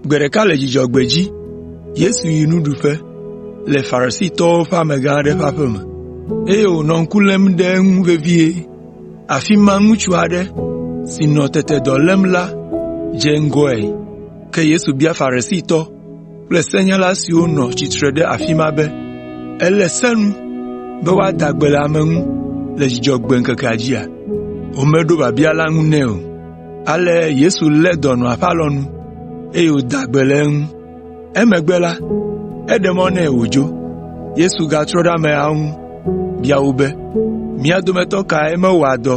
Gbe ɖeka le Dzudzɔgbe dzi, Yesu yi nuɖuƒe le Farisitɔwo ƒe amegã aɖe ƒe aƒe me, eye wònɔ ŋku lém ɖe eŋu vevie. Afi ma ŋutsu aɖe si nɔ tete dɔ lém la dze ŋgɔe. Ke Yesu bia Farisitɔ kple senyala siwo nɔ tsitre ɖe afi ma be, “Ele se nu be woada gbe le ame ŋu le Dzudzɔgbe ŋkekea dzia?” Womeɖo biabia la ŋu nɛ o. Ale Yesu lé dɔnɔa ƒe alɔnu, eye wòda gbe le eŋu. Emegbe la, eɖe mɔ nɛ wòdzo. Yesu gatrɔ ɖe ameawo ŋu bia wo be, “Mia dometɔ kae mewɔa dɔ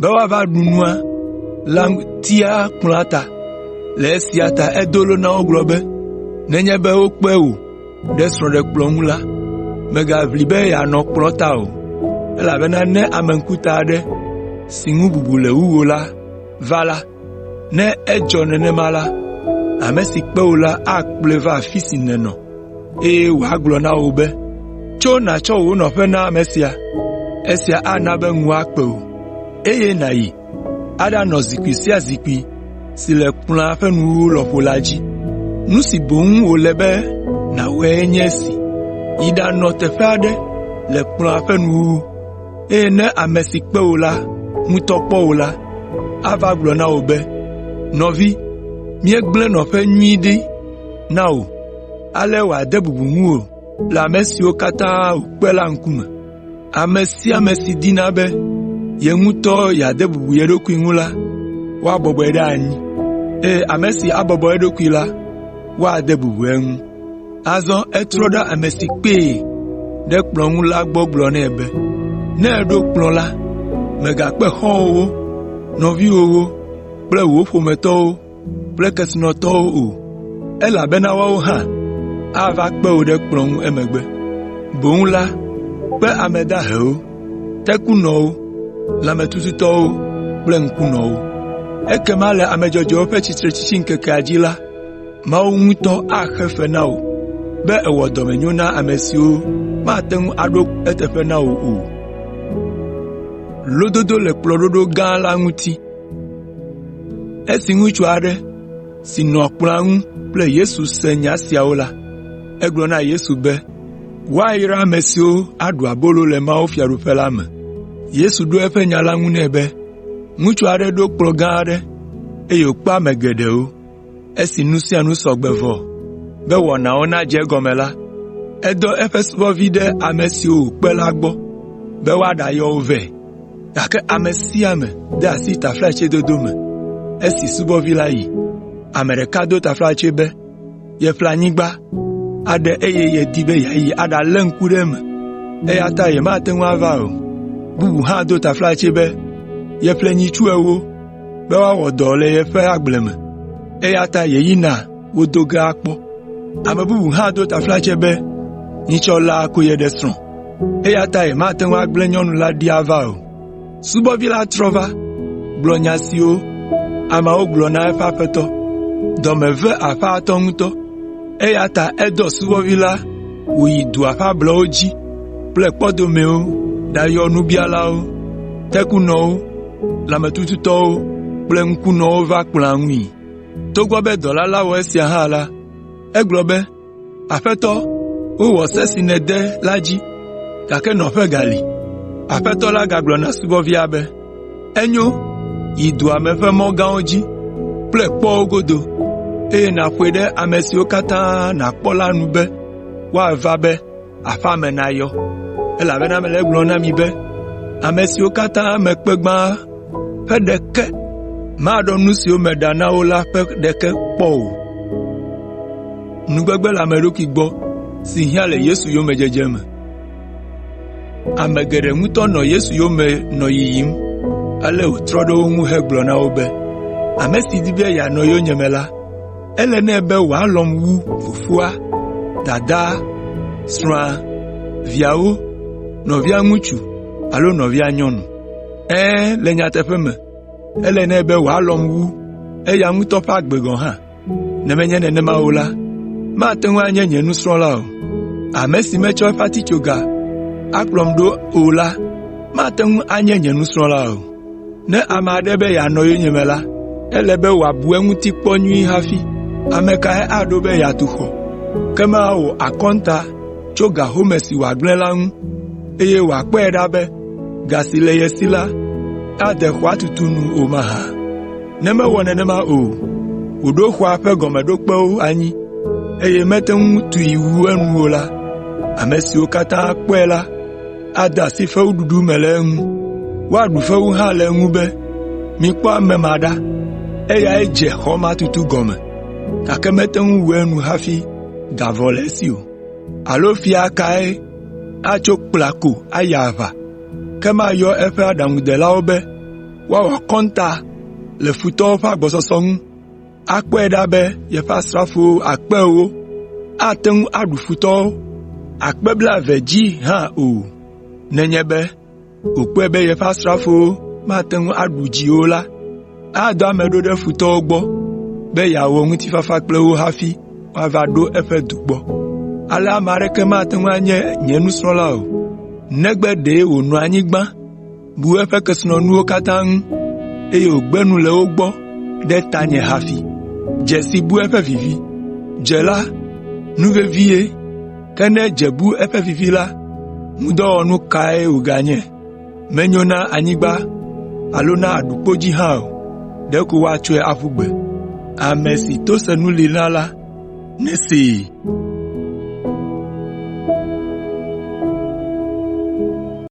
be woava ɖu nua la ŋutia kplɔa ta. Le esia ta edo lo na wo gblɔ be, “Nenye be wokpe wò ɖe srɔ̃ɖekplɔ̃ ŋu la, mègaʋli be yeanɔ kplɔ̃ ta o, elabena ne ame ŋkuta aɖe si ŋu bubu le wu wò la va la, Ne edzɔ nenema la, ame si kpe wò la akplɔe va afi si nènɔ, eye wòagblɔ na wò be, ‘Tso nàtsɔ wò nɔƒe na ame sia.’ Esia ana be ŋu akpe wò, eye nàyi aɖanɔ zikpui sia zikpui si le kplɔ̃a ƒe nuwuwu lɔƒo la dzi. Nu si boŋ wòle be nàwɔe nye esi, yi ɖanɔ teƒe aɖe le kplɔ̃a ƒe nuwuwu. eye ne ame si kpe wò la ŋutɔ kpɔ wò la, ava gblɔ na wò be, ‘Nɔvi, míegblẽ nɔƒe nyui ɖi na wò.’ Ale wòade bubu ŋuwò le ame siwo katã wòkpe la ŋkume. Ame sia ame si dina be ye ŋutɔ yeade bubu ye ɖokui ŋu la, woabɔbɔe ɖe anyi, eye ame si abɔbɔ eɖokui la, woade bubu eŋu.” Azɔ etrɔ ɖe ame si kpee ɖe kplɔ̃ ŋu la gbɔ gblɔ nɛ be, “Ne èɖo kplɔ̃ la, mègakpe xɔ̃wòwo, nɔviwòwo kple wò ƒometɔwo kple kesinɔtɔwo o, elabena woawo hã ava kpe wò ɖe kplɔ̃ ŋu emegbe. Boŋ la, kpe ame dahewo, tekunɔwo, lãmetututɔwo kple ŋkunɔwo. Ekema le ame dzɔdzɔewo ƒe tsitretsitsiŋkekea dzi la, Mawu ŋutɔ axe fe na wò be èwɔ dɔmenyo na ame siwo mate ŋu aɖo eteƒe na wò o.” Esi ŋutsu aɖe si nɔ kplɔ̃a ŋu kple Yesu se nya siawo la, egblɔ na Yesu be, “Woayra ame siwo aɖu abolo le mawufiaɖuƒe la me.” Yesu ɖo eƒe nya la ŋu nɛ be, “Ŋutsu aɖe ɖo kplɔ̃ gã aɖe, eye wòkpe ame geɖewo. Esi nu sia nu sɔ gbe vɔ be wɔnawo nadze egɔme la, edɔ eƒe subɔvi ɖe ame siwo wòkpe la gbɔ be woaɖayɔ wo vɛ. Gake ame sia ame de asi taflatsedodo me. Esi subɔvi la yi, ame ɖeka do taflatse be yeƒle anyigba aɖe eye yedi be yeayi aɖalé ŋku ɖe eme, eya ta yemate ŋu ava o. Bubu hã do taflatse be yeƒle nyitsu ewo. be woawɔ dɔ le yeƒe agble me, eya ta yeyina wo do ge akpɔ. Ame bubu hã do taflatse be, ‘Nyitsɔ la ko yeɖe srɔ̃, eya ta yemate ŋu agblẽ nyɔnu la ɖi ava o.’ Subɔvi la trɔ va gblɔ nya siwo ameawo gblɔ na eƒe aƒetɔ. Dɔ me ve aƒetɔ la ŋutɔ, eya ta edɔ subɔvi la wòyi dua ƒe ablɔwo dzi kple kpɔdomewo ɖayɔ nubialawo, tekunɔwo, lãmetututɔwo kple ŋkunɔwo va kplɔa ŋui. Togbɔ be dɔla la wɔ esia hã la, egblɔ be, ‘Aƒetɔ, wowɔ se si nède la dzi, gake nɔƒe gali.’ “Aƒetɔ la gagblɔ na subɔvia be, ‘Enyo, yi dua me ƒe mɔ gãwo dzi kple kpɔwo godo, eye nàƒoe ɖe ame siwo katã nàkpɔ la nu be woava be aƒea me nayɔ, elabena mele egblɔm na mi be, ame siwo katã me kpe gbã ƒe ɖeke maɖɔ nu siwo meɖa na wo la ƒe ɖeke kpɔ o.” Ame geɖe ŋutɔ nɔ Yesu yome nɔ yiyim, ale wòtrɔ ɖe wo ŋu hegblɔ na wo be, “Ame si di be yeanɔ yonyeme la, Ele nɛ be wòalɔ̃m wu fofoa, dadaa, srɔ̃a, viawo, nɔvia ŋutsu alo nɔvia nyɔnu. Ɛ̃, le nyateƒe me, ele nɛ be wòalɔ̃m wu eya ŋutɔ ƒe agbe gɔ̃ hã. Ne menye nenema o la, mate ŋu anye nye nusrɔ̃la o. Ame si metsɔ eƒe atitsoga akplɔm ɖo o la mate ŋu anye nye nusrɔ̃la o. Ne ame aɖe be yeanɔ yonyeme la, ele be wòabu eŋuti kpɔ nyuie hafi. Ame kae aɖo be yeatu xɔ, ke mawɔ akɔnta tso ga home si wòagblẽ la ŋu, eye wòakpɔe ɖa be ga si le ye si la ade xɔa tutu nu o mahã? Ne mewɔ nenema o la, wòɖo xɔa ƒe gɔmeɖokpewo anyi, eye mete ŋu tui wu enu o la, ame siwo katã kpɔe la, ade asi fewuɖuɖu me le eŋu. Woaɖu fewu hã le eŋu be, ‘Mikpɔ ame ma ɖa! Eyae dze xɔ ma tutu gɔme, gake mete ŋu wu enu hafi ga vɔ le esi o.’ Alo fia kae atso kpla ko ayi aʋa, ke mayɔ eƒe aɖaŋudelawo be woawɔ akɔnta le futɔwo ƒe agbɔsɔsɔ ŋu? akpɔe ɖa be yeƒe asrafo akpe ewo ate ŋu aɖu futɔwo akpe blaeve dzi hã o, nenye be wòkpɔe be yeƒe asrafo mate ŋu aɖu dzi o la, adɔ ame ɖo ɖe futɔwo gbɔ be yeawɔ ŋutifafa kple wo hafi woava ɖo eƒe du gbɔ. Ale ame aɖeke mate ŋu anye nye nusrɔ̃la o, negbe ɖe wònɔ anyi gbã. bu eƒe kesinɔnuwo katã ŋu, eye wògbe nu le wo gbɔ ɖe tanye hafi. Dze si bu eƒe vivi. Dze la, nu vevie, ke ne dze bu eƒe vivi la, ŋudɔwɔnu kae wòganye? Menyo na anyigba alo na aɖukpo dzi hã o, ɖeko woatsɔe aƒu gbe. Ame si to senu li na la, nesee.”